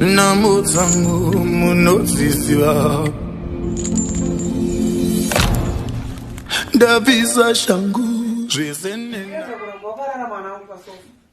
Namo dzangu munodziziva ndabvisa shangu zvese nena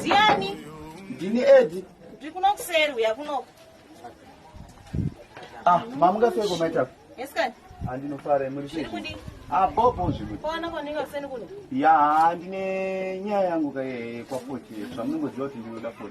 Ndiani? Ndini Edi. Ndiri kuno kuseri uya kunoko. Ah, mamuka seko maita. Yes kani. Andinofara muri sei? Kudi. Ah, bobo zvimwe. Kona kona ninga kuseni kuno. Ya, ndine nyaya yangu kaye kwa 40. Zvamunongoziva kuti ndinoda 40.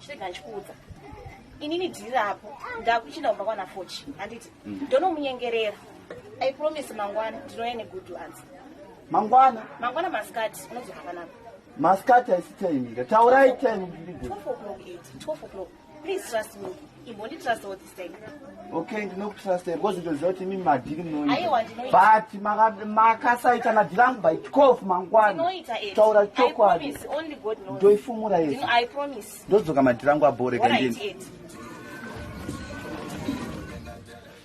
chirega ndichikuudza inini dhiri rapo ndakuchinda kumba kwana fochi handiti mm. ndonomunyengerera i promise mangwana ndinouya negood answer mangwana mangwana masikati unozoka panapa masikati haisi time ika taurai time 12 o'clock 8 12 o'clock please trust me imbonditrust okay ndinokutrustai because ndinoziva kuti imi madhiri munoitabut makasaita madhiri angu by 12 mangwana taura chokwadi ndoifumura yese ndodzoka madhiri angu abhoreka ndini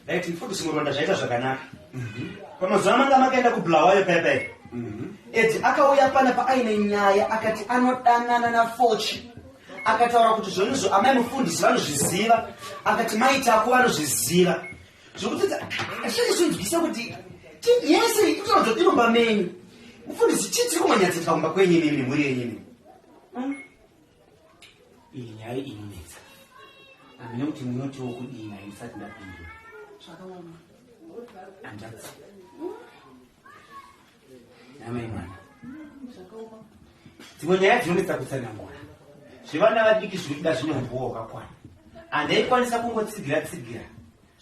right mfudu simuronda zvaita zvakanaka mhm. pamazuva manga makaenda kubulawayo paya paya mhm. ed akauya pana paaine nyaya akati anodanana nafochi akataura kuti zvonizvo amai mufundisi vanozviziva akati mai tako vanozviziva zvokuti zvinenge zvinzwisa kuti yese itoa zvodiromba menyu mufundisi chii tiri kumanyatsetwa kumba kwenyu imimi nemhuri yenyu imimi hmm? iyi nyaya inonetsa amene kuti munotiwo kudii nayo ndisati ndapindura handatsi dzimwe nyaya dzinonetsa kutsanangura zvevana vadiki zviri kuda zvine humbowa hwakakwana handaikwanisa kungotsigira tsigira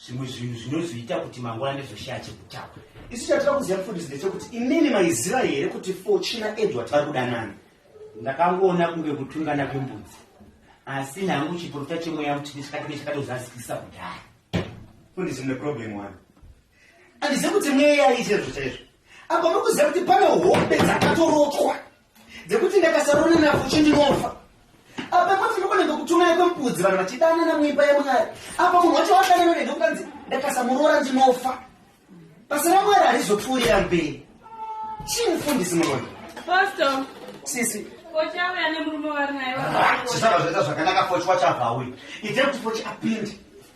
zvimwe zvinhu zvinozoita kuti mangwana ndizoshaya chekutaura isu chatira kuziva mufundisi ndechekuti imimi maiziva here kuti fochina edward vari kudanana ndakangoona kunge kutungana kwembudzi asi nhangu chiporofita chemweya mutini chakati nechakatozazikisa kudhaya fundisi mune problem one Andizive kuti mweya aiite izvo chaizvo. Apa mukuziva kuti pane hombe dzakatorotwa dzekuti ndakasarona nafuchi ndinofa. Apa moti ndikonenge kutumira kwembudzi vanhu vachidanana muimba yemwari. Apa munhu wacho wadanana nenge kukanzi ndakasamuroora ndinofa. Basa ramwari harizopfuurira mberi. Chii mufundisi muroyi? Pastor. Sisi. Fochi auya nemurume waari naye. Zvisava zvoita zvakanaka fochi wacho abva auya. Itai kuti fochi apinde.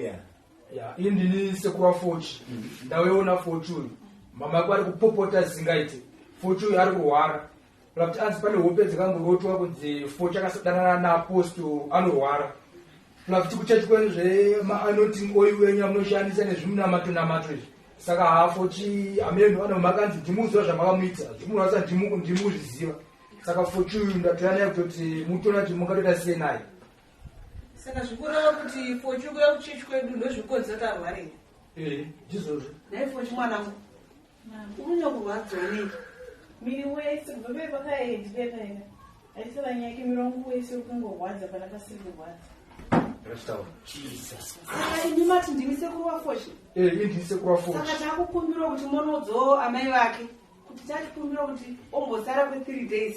Yeah. Yeah, ini ndini sekuru wafochi mm. ndaweona fochi uyu mama yako ari kupopota zingaite fochi uyu ari kurwara kuti anzi pane hope dzakamborotwa kunzi fochi akasadanana naaposto anorwara kuti kuchechi kwenu zveanoting oil wenyu amunoshandisa nezvimunamato namato izvi saka hafochi amene vana makanzi ndimuziva zvamakamuita zvimunhu asa ndimuzviziva saka fochi uyu ndatoyanaye kutoti mutona kuti mungatoita sei naye Saka zvikureva kuti fochi kuya kuchechi kwedu ndozvikonza tarware. Eh, ndizvozvo. Dai fochi mwanangu. Unonya kurwadza nei? Miri wese kubva pei pakaendi pekaenda. Aisava nyaya yake miri wangu wese ukungorwadza pana pasiri kurwadza. Saka imi mati ndimi sekuru wafochi? Eh, ndimi sekuru wafochi. Saka takukumbirwa kuti monodzo amai vake kuti tatikumbirwa kuti ombosara kwe 3 days.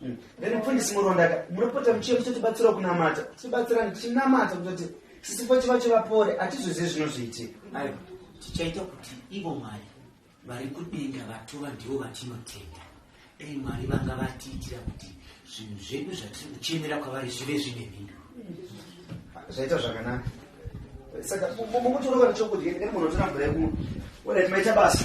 Hmm. Then mfundisi Murondaka, munopota muchiye muchitibatsira kunamata. Tibatsira tichinamata kuti sisifo chiva chivapore, atizvizivi zvinozoitika. Aiwa, tichaita kuti ivo Mwari vari kudenga vatova ndivo vatinotenda. Dai Mwari vanga vatiitira kuti zvinhu zvedu zvatiri kuchemera kwavari zvive zvine mhinduro. Hmm. Zvaita zvakanaka. Saka mukuti unoka nechokudya, ndikati munhu otora mvura yekumwa. Wena timaita basa.